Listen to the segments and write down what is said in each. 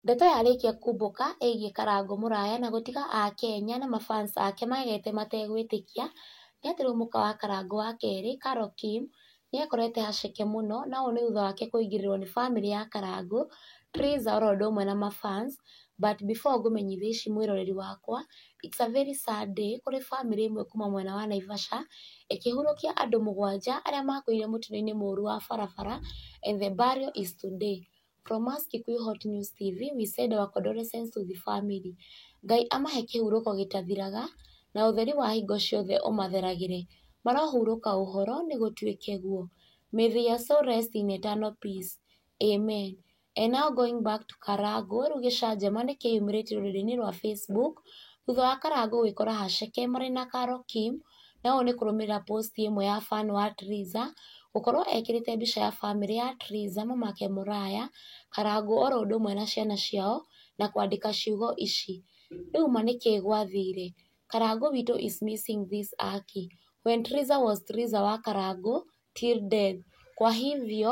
Ndeto yarĩkia kumbũka ĩgiĩ Karangũ Mũraya na gũtiga Akenya na mafans ake magegete mategwĩtĩkia nĩ atĩ rĩu mũka wa Karangũ wa kerĩ, Carol Kim, nĩ ekorete haceke mũno na ũũ nĩ thutha wake kũingĩrĩrwo nĩ famĩlĩ ya Karangũ, Triza oro ũndũ ũmwe na mafans but before ngũmenyithie ici mwĩroreri wakwa, it's a very sad day kũrĩ famĩlĩ ĩmwe kuma mwena wa Naivasha ĩkĩhurũkia andũ mũgwanja arĩa makuĩire mũtino-inĩ mũru wa barabara and the burial is today. From us Kikuyu Hot News TV, we send our condolences to the family. Ngai amahe kĩhurũko gĩtathiraga, na ũtheri wa hingo ciothe ũmatheragĩre. Marohurũka ũhoro, nĩ gũtuĩke guo. May their soul rest in eternal peace. Amen. And now going back to Karangũ, rĩu gĩcanjama nĩ kĩyumĩrĩtie rũrenda-inĩ rwa Facebook, thutha wa Karangũ gwĩkora Haceke marĩ na Karo Kim, na ũũ nĩ kũrũmĩrĩra post ĩmwe ya fan wa Triza gũkorwo ekĩrĩte mbica ya bamĩrĩ ya Triza, mamake Mũraya, Karangũ oro ũndũ ũmwe na ciana ciao na kwandĩka ciugo ici, "Rĩu ma nĩkĩĩ gwathire? Karangũ witũ is missing this aki. When Triza was Triza wa Karangũ till death. Kwa hivyo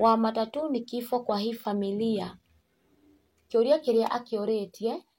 wa matatũ ni kifo kwa hii familia." Kĩũria kĩrĩa akĩũrĩtie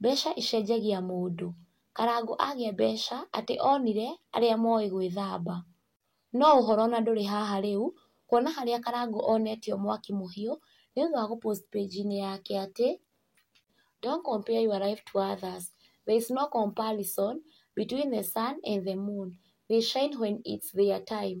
Mbeca icenjagia mũndũ. Karangũ agĩa mbeca atĩ onire arĩa moĩ gwĩthamba. No ũhoro ona ndũrĩ haha rĩu, kuona harĩa Karangũ onetio mwaki mũhiũ, nĩ ũndũ wa gũ post page inĩ yake atĩ, Don't compare your life to others, there is no comparison between the sun and the moon, they shine when it's their time.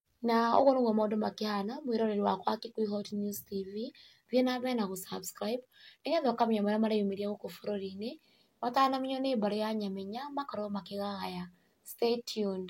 Na ũguo nĩguo maũndũ makĩhana mwĩroreri wakwa wa Kikuyu Hot News TV, thiĩ na mbere na gũ subscribe nĩgetha ũkamenya marĩa mareyumĩria gũkũ bũrũri-inĩ matanamenywo nĩ mbarĩ ya Nyamenya makorwo makĩgagaya. Stay tuned.